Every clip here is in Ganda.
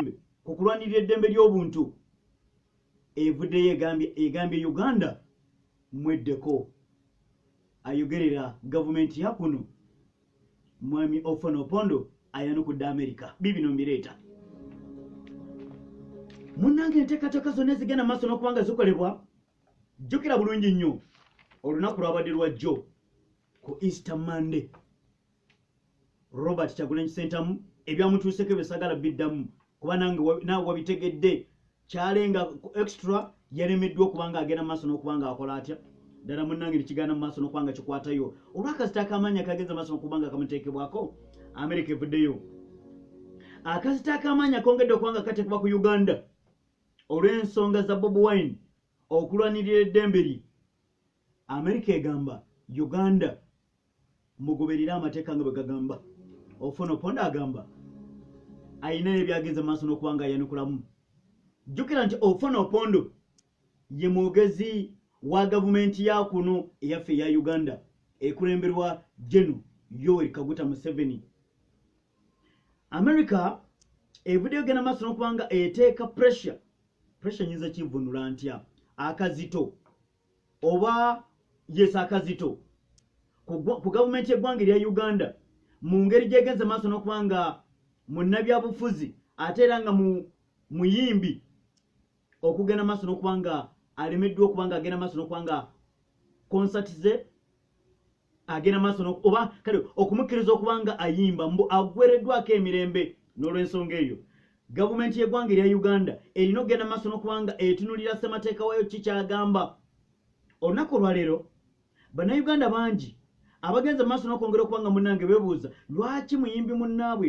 Kyagulanyi ku kulwanirira eddembe ly'obuntu evuddeyo egambye Uganda mweddeko ayogerera gavumenti ya kuno mwami Ofwono Opondo ayanukudde Amerika bibino mbireeta munnange enteekateeka zonna ezigenda maaso n'okuba nga zikolebwa jjukira bulungi nnyo olunaku lwabadde lwajjo ku easter monday robert kyagulanyi sentamu ebyamutuuseko ebyo sagala biddamu kuba nange naawe wabitegedde kyalenga extra yalemeddwa okuba nga agenda maaso n'okuba nga akola atya ddala munnange tekigenda mu maaso n'okuba nga kikwatayo olwakazita akamaanyi akagenza maaso n'okuba nga kamuteekebwako amerika evuddeyo akazita akamaanyi akongedde okuba nga kateekebwa ku uganda olw'ensonga za bob wine okulwanirira eddembe lye amerika egamba uganda mugoberere amateeka nga bwe gagamba ofuna oponda agamba alina ebyagenze maaso n'okuba nga ayanukulamu jjukira nti ofuna opondo ye mwogezi wa gavumenti ya kuno eyaffe eya uganda ekulemberwa geno yoweri kaguta museveni america evuddeyo genda maaso n'okuba nga eteeka pressure pressure nyinza kivunula ntya akazito oba yesa akazito ku gavumenti y'eggwanga erya uganda mu ngeri gyegenze maaso n'okuba nga munnabyabufuzi ate era nga muyimbi okugenda maaso n'okuba nga alemeddwa okuba nga agenda maaso n'okuba nga konsati ze agenda maaso oba kale okumukkiriza okuba nga ayimba mbu agwereddwako emirembe n'olwensonga eyo gavumenti y'eggwanga erya uganda erina okugenda maaso n'okuba nga etunulira ssemateeka wayo ki kyagamba olunaku olwaleero bannayuganda bangi abagenze maaso n'okwongera okuba nga munnange bebuuza lwaki muyimbi munnaabwe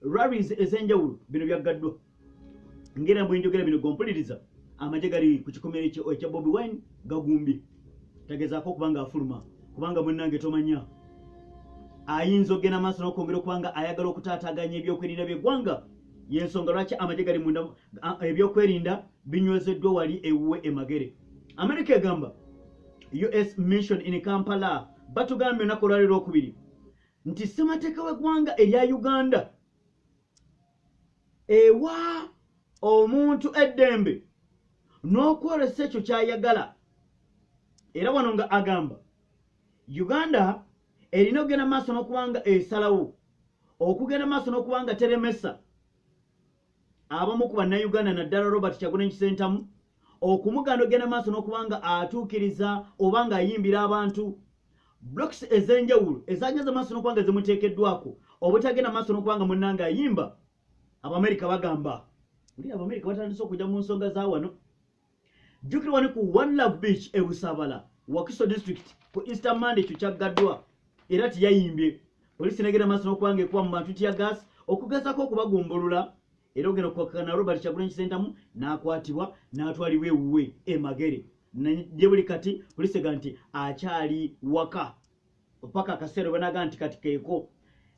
rallies ez'enjawulo bino byaggaddwa ngera bwenjogera bino gompuliriza amagye gali ku kikomere ekya bobi wine gagumbye tagezaako okuba nga afuluma kubanga munange tomanya ayinza okugenda maaso n'okwongera okuba nga ayagala okutaataaganya ebyokwerinda by'eggwanga yensonga lwaki amagye gali munda ebyokwerinda binywezeddwa wali ewuwe emagere amerika egamba us mission in kampala batugambye onaku olwaliro okubiri nti ssemateeka w'eggwanga erya uganda ewa omuntu eddembe n'okwolesa ekyo ky'ayagala era wano nga agamba uganda erina okugenda mu maaso n'okubanga esalawo okugenda mu maaso n'okubanga teremesa abamu ku bannayuganda naddala robert kyagulanyi kisentamu okumuganda ogenda maaso n'okuba nga atuukiriza oba nga ayimbira abantu blocks ez'enjawulo ezagenda maaso n'okuba nga zimuteekeddwako obutagenda maaso n'okuba nga munnanga ayimba abamerika bagamba uli abamerika batandise okujja mu nsonga za wano jjukira wali ku one love beach e busabala wakiso district ku easter monday ekyo kyaggaddwa era teyayimbye poliisi negenda maaso n'okubanga ekuba mu bantu tya gas okugezako okubagumbulula era ogenda okukwakakana robert kyagula enkisentamu n'akwatibwa n'atwalibwa ewuwe emagere gye buli kati poliisi ega nti akyali waka opaka akaseera obanaga nti kati keeko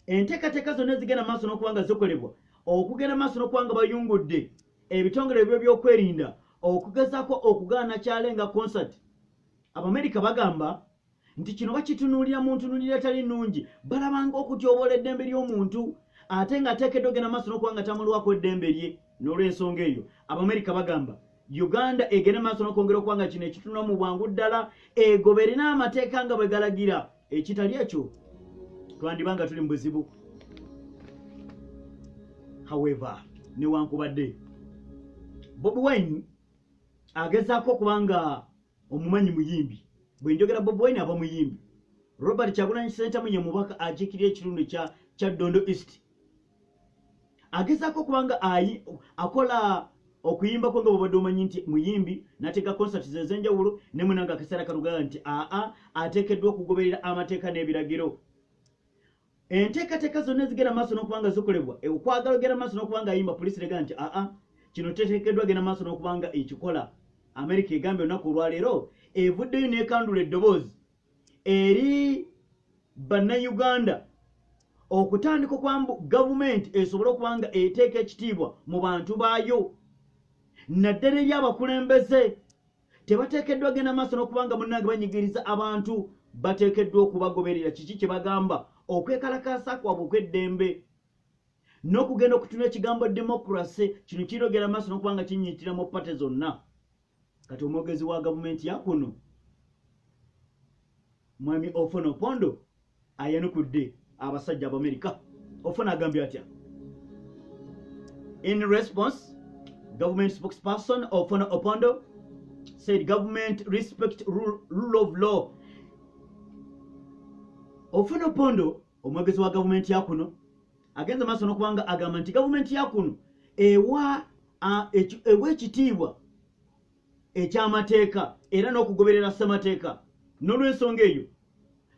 enteekateeka zonna ezigenda maaso n'okuba nga zikolebwa okugenda maaso n'okuba nga bayungudde ebitongole ebyo byokwerinda okugezaako okugaana kyale nga concert abamerika bagamba nti kino bakitunuulira mu ntunuulira etali nnungi balabanga okutyobola eddembe ly'omuntu ate ng'ateekeddwa ogenda maaso n'okuba nga tamulwako eddembe lye n'olw'ensonga eyo abamerika bagamba uganda egende maaso nokwongera okuba nga kino ekitunula mu bwangu ddala egoba erina amateeka nga bwe galagira ekitali ekyo twandiba nga tuli mu buzibu however newankubadde bobi wine agezaako okuba nga omumanyi muyimbi bwe njogera bobi wine aba muyimbi robert kyagulanyi sentamu ye mubaka akiikirira ekitundu kya ddondo east agezaako okuba nga akola okuyimbako nga bwobadde omanyi nti muyimbi nateeka concert ze ezenjawulo ne munanga akaseera kalugaa nti aa ateekeddwa okugoberera amateeka n'ebiragiro enteekateeka zonna ezigera maaso n'okuba nga zikolebwa e, okwagala ogera maaso n'okuba nga ayimba poliisi rega nti aa kino teteekeddwa genda maaso n'okuba nga ekikola amerika egambye olunaku olwaleero evuddeyo n'ekandula eddoboozi eri bannayuganda okutandika okuba mbu gavumenti esobole okuba nga eteeka ekitiibwa mu bantu baayo naddala eri abakulembeze tebateekeddwa genda maaso n'okuba nga munnange banyigiriza abantu bateekeddwa okubagoberera kiki kye bagamba okwekalakaasa kwabwe okw'eddembe n'okugenda okutuna ekigambo demokrase kino kirogera maaso n'okuba nga kinyiitira mu pate zonna kati omwogezi wa gavumenti yakuno mwami ofono pondo ayanukudde abasajja abamerika ofono agambye atya in response government spokesperson ofono opondo said government respect rule of law ofono pondo omwogezi wa gavumenti ya kuno agenze maaso nokuba nga agamba nti gavumenti ya kuno ewa ewa ekitiibwa ekyamateeka era n'okugoberera ssemateeka n'olwensonga eyo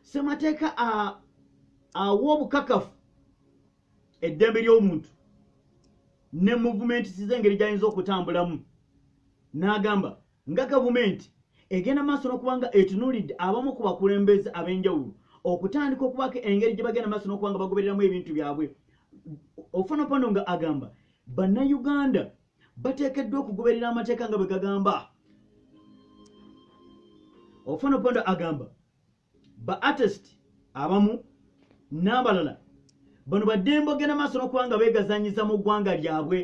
ssemateeka awa obukakafu eddembe ly'omuntu ne muvumenti size engeri gy'ayinza okutambulamu n'agamba nga gavumenti egenda maaso n'okuba nga etunuulidde abamu ku bakulembeze ab'enjawulo okutandika okubaako engeri gye bagenda maaso n'okuba nga bagobereramu ebintu byabwe ofanopano nga agamba bannayuganda bateekeddwa okugoberera amateeka nga bwe gagamba ofanopano agamba ba artist abamu n'abalala bano baddembe ogenda maaso n'okuba nga beegazanyiza mu ggwanga lyabwe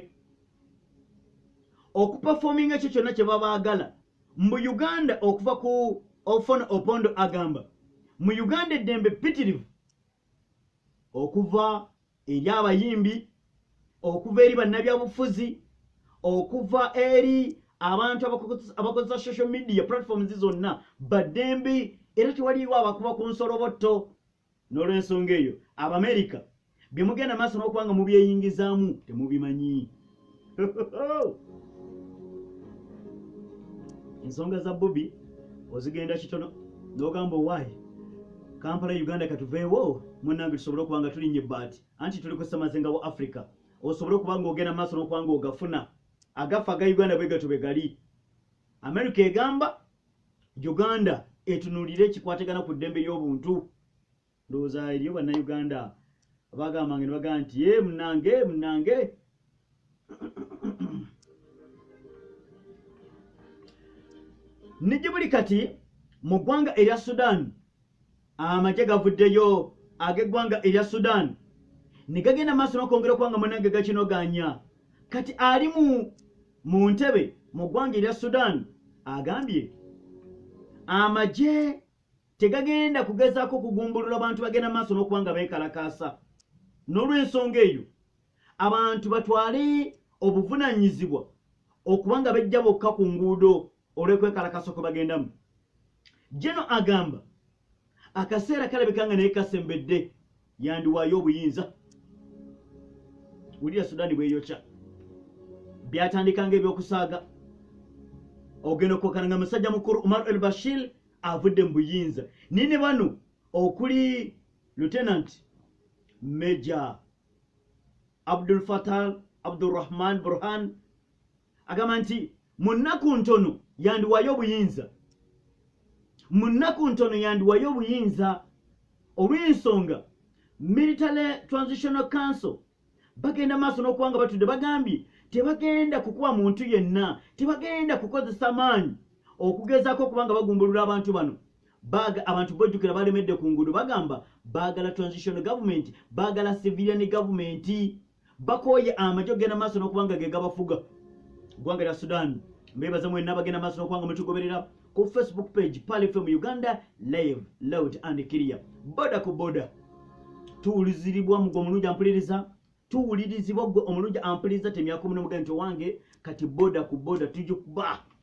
okupafominga ekyo kyonna kye babaagala mu uganda okuva ku ofon opondo agamba mu uganda eddembe pitirivu okuva eri abayimbi okuva eri bannabyabufuzi okuva eri abantu abakozesa social media platforms zonna baddembe era tewaliiwo abakuba ku nsolobotto n'olwensonga eyo abamerika bye mugenda maaso n'okuba nga mubyeyingizaamu temubimanyi ensonga za bobi ozigenda kitono nogamba owaye kampala uganda katuveewo munange tusobole okuba nga tulinye baati anti tuli kusemazinga wa africa osobole okuba nga ogenda maaso nokuba nga ogafuna agafa aga uganda bwegato begali america egamba uganda etunulire ekikwatagana ku ddembe ly'obuntu ndowooza eriyo bannayuganda abagambanga ne bagamba nti e munange munange nijje buli kati mu ggwanga erya sudan amagye gavuddeyo ag'eggwanga erya sudan ne gagenda maaso nokwongera okuba nga munange gakinoganya kati ali mu mu ntebe mu ggwanga erya sudan agambye amagye tegagenda kugezaako kugumbulula bantu bagenda maaso n'okuba nga beekalakaasa n'olw'ensonga eyo abantu batwale obuvunaanyizibwa okuba nga bejja bokka ku nguudo olw'ekwekalakasa kwe bagendamu jeno agamba akaseera kalabika nga naye kasembedde yandiwaayo obuyinza wulira sudaani bweyokya byatandika nga ebyokusaaga ogenda okwokana nga musajja mukulu umar el bashir avudde mu buyinza naye ne bano okuli lieutenant major abdul fatal abdurahman burhan agamba nti mu nnaku ntono yandiwayo obuyinza mu nnaku ntono yandiwayo obuyinza olw'ensonga military transitional council bagenda maaso n'okuba nga batudde bagambye tebagenda kukuba muntu yenna tebagenda kukozesa maanyi okugezaako okuba nga bagumbulula abantu bano abantu bojjukira balemedde ku nguudo bagamba baagala transitional government baagala civilian government bakooye amagye okugenda maaso n'okuba nga ge gabafuga ggwanga lya sudan mbeebaza mwena abagenda maaso n'okuba nga mutugoberera ku facebook page palifm uganda live loud and clear boda ku boda tuwuliziribwa mugwe omulungi ampuliriza tuwulirizibwa gwe omulungi ampuliriza temyaka omunomuga nti owange kati boda ku boda tujukuba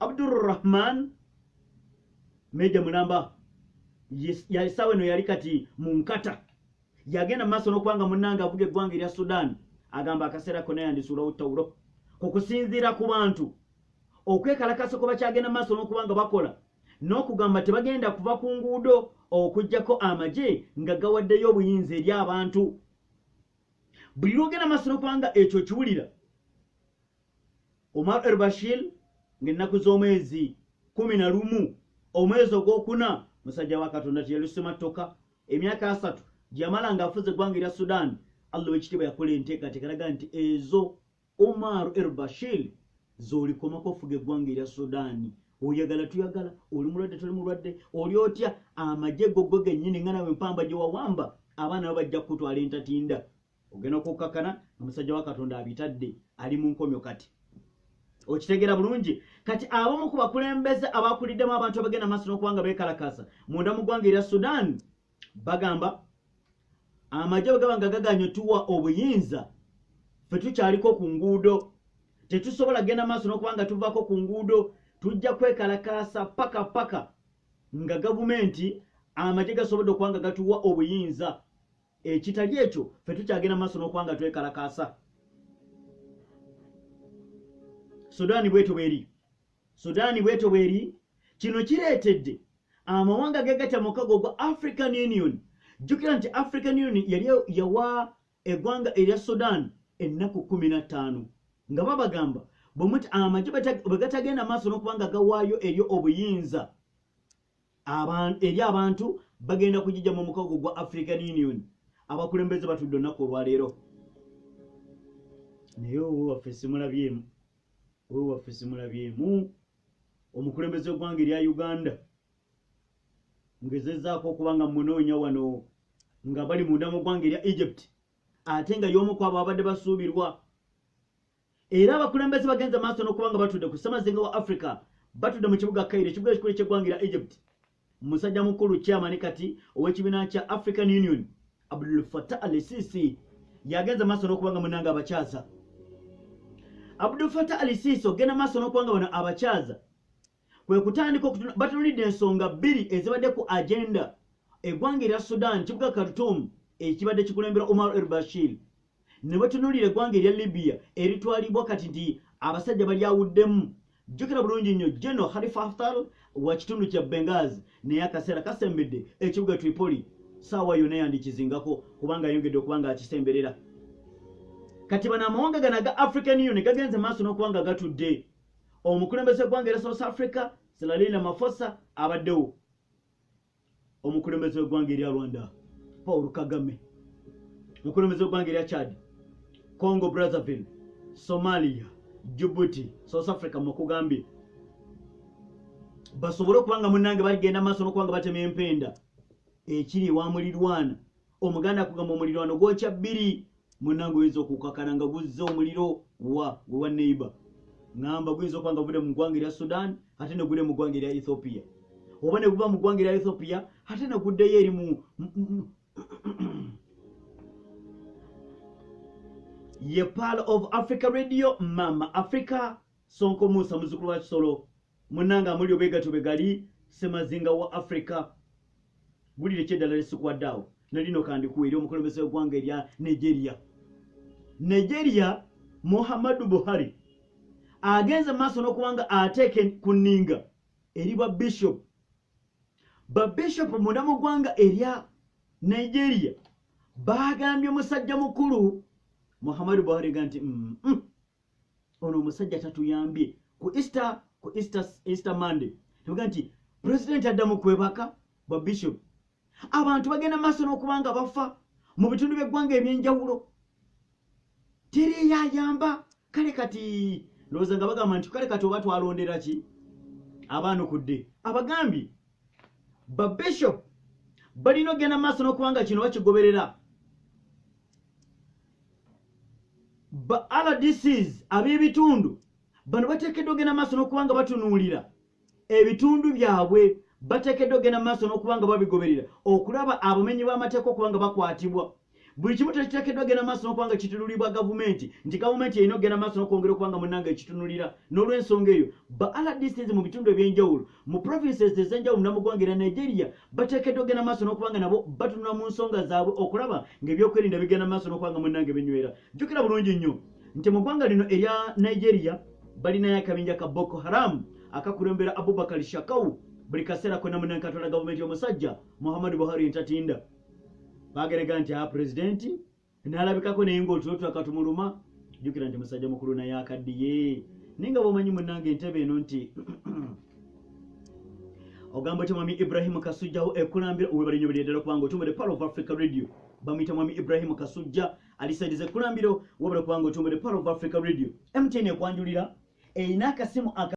Abdur Rahman Meja Mulamba yalisawe no yali kati mu nkata yagenda maaso n'okuba nga munnange avuga eggwanga erya Sudan agamba akaseera kona yandisuulawo ttawulo ku kusinziira ku bantu okwekalakasa kwe bakyagenda maaso n'okuba nga bakola n'okugamba tebagenda kuva ku nguudo okugyako amagye nga gawaddeyo obuyinza eri abantu buli lwogenda maaso n'okuba nga ekyo kiwulira Omar el-Bashir ng'ennaku z'omwezi kumi na lumu omwezi ogwokuna musajja wa katonda teyalusema ttoka emyaka asatu gyeyamala ng'afuze eggwanga erya sudan allah owekitiibwa yakola enteekateeka alaga nti ezo omar el-Bashir z'olikomako ofuga eggwanga erya sudan oyagala tuyagala oli mulwadde toli mulwadde oli otya amagye gogwe gennyini nga nawe mpamba gye wawamba abaana bo bajja kukutwala entatinda ogenda okukkakkana nga musajja wa katonda abitadde ali mu nkomyo kati okitegeera bulungi kati abamu ku bakulembeze abakuliddemu abantu abagenda maaso n'okuba nga beekalakaasa munda mu ggwanga erya sudan bagamba amagye bwe gaba nga gaganye tuwa obuyinza fe tukyaliko ku nguudo tetusobola kugenda maaso n'okuba nga tuvaako ku nguudo tujja kwekalakaasa paka paka nga gavumenti amagye gasobodde okuba nga gatuwa obuyinza ekitali ekyo fe tukyagenda maaso n'okuba nga twekalakaasa sudaani bwetyo bweri sudaani bwetyo bweri kino kireetedde amawanga gegatya mukago ogwa african union jjukira nti african union yali yawa eggwanga erya sudan ennaku kumi na ttaano nga babagamba bwemuti amagye bwegatagenda maaso n'okuba nga gawaayo eryo obuyinza eri abantu bagenda kugijja mu mukago gwa african union abakulembeze batudde olunaku olwaleero naye owewaffe simulabyemu owewaffe simulabyemu omukulembeze wegwanga erya uganda ngezezaako okuba nga munoonya wano nga bali munda mu gwanga erya egypt ate nga yomu kwabo abadde basuubirwa Era abakulembeze bagenze maaso n'okuba nga batudde ku ssemazinga wa Africa batudde mu kibuga Cairo ekibuga ekikulu eky'eggwanga lya Egypt. Musajja mukulu chairman kati ow'ekibiina kya African Union Abdul Fattah al-Sisi yagenze maaso n'okuba nga munange abakyaza. Abdul Fattah al-Sisi ogenda maaso n'okuba nga bano abakyaza kwe kutandika okutuna batunulidde ensonga bbiri ezibadde ku agenda eggwanga erya sudan kibuga khartum ekibadde kikulembera omar el bashir ne batunulira eggwanga erya libya eritwalibwa kati nti abasajja balyawuddemu jjukira bulungi nnyo geno halifa haftar wa kitundu kya bengaz naye akaseera kasembedde ekibuga tripoli saawa yona yandikizingako kubanga ayongedde okuba nga akisemberera kati bano amawanga gano aga african union gagenze maaso n'okuba nga gatudde omukulembeze gwanga era south africa silalina mafosa abaddewo omukulembeze wegwanga erya rwanda paul kagame omukulembeze wegwanga erya chad congo brazzaville somalia jibuti south africa mukugambye basobole okuba nga munange baligenda maaso nokuba nga batema empenda ekiri ewamulirwana omuganda kugamba omulirwano gwokya bbiri munange oyinza okukakana nga guzza omuliro wa wewa neighbor ngamba guyinza okuba nga gude mu ggwanga erya sudan ate ne gude mu ggwanga erya ethiopia oba ne guba mu ggwanga erya ethiopia ate ne guddeyo eri mu ye pal of africa radio mama africa sonko musa muzukulu wa kisolo Munange amulyo bwegatyo bwegali semazinga wa Africa wulire kyeddala lyesikuwadde awo nalino kandikuwa eri omukulembeze wegwanga erya Nigeria Nigeria Muhammadu Buhari agenze maaso nokubanga ateeke ku ninga eri ba bishop ba bishop munda mu gwanga erya Nigeria bagambye musajja mukulu Muhammadu Buhari ga nti mm, mm, ono omusajja tatuyambye ku easter ku easter easter monday tuvuga nti president adda mu kwebaka bwa bishop abantu bagenda maaso n'okuba nga bafa mu bitundu by'eggwanga eby'enjawulo teriyayamba kale kati ndowooza nga bagamba nti kale kati oba twalondera ki abaanukudde abagambye ba bishop balina okugenda maaso n'okuba nga kino bakigoberera ba rdcs ab'ebitundu bano bateekeddwa ogenda maaso n'okuba nga batunuulira ebitundu byabwe bateekeddwa ogenda maaso n'okuba nga babigoberera okulaba abamenyi b'amateeka okuba nga bakwatibwa buli kimu tekiteekeddwa genda maaso nokuba nga kitunulibwa gavumenti nti gavumenti erina okugenda maaso nokwongera okuba nga munange ekitunulira n'olwensonga eyo ba rdcs mu bitundu ebyenjawulo mu provinces ezenjawulo namugwanga era nigeria bateekeddwa okugenda maaso n'okuba nga nabo batunula mu nsonga zaabwe okulaba ng'ebyokwerinda bigenda maaso n'okuba nga munnange binywera jjukira bulungi nnyo nti mu ggwanga lino erya nigeria balinayo akabinja ka boko haram akakulembera abubakar shakau buli kaseera konna munankatwala gavumenti y'omusajja muhammadu buhari entatinda baagerega nti a ah, pulezidenti nalabikako naye nga otulo tulaka tumuluma jukira nti musajja mukulu naye akaddiye naye nga bwomanyi munange entebe eno nti ogamba otya mwami ibrahim kasujjawo ekulambira webale nyo bireddala kubanga otumbere power of africa radio bamuyita mwami ibrahim kasujja alisaidiza ekulambiro webale kubanga otumbere power of africa radio mtn ekwanjulira erina akasimu aka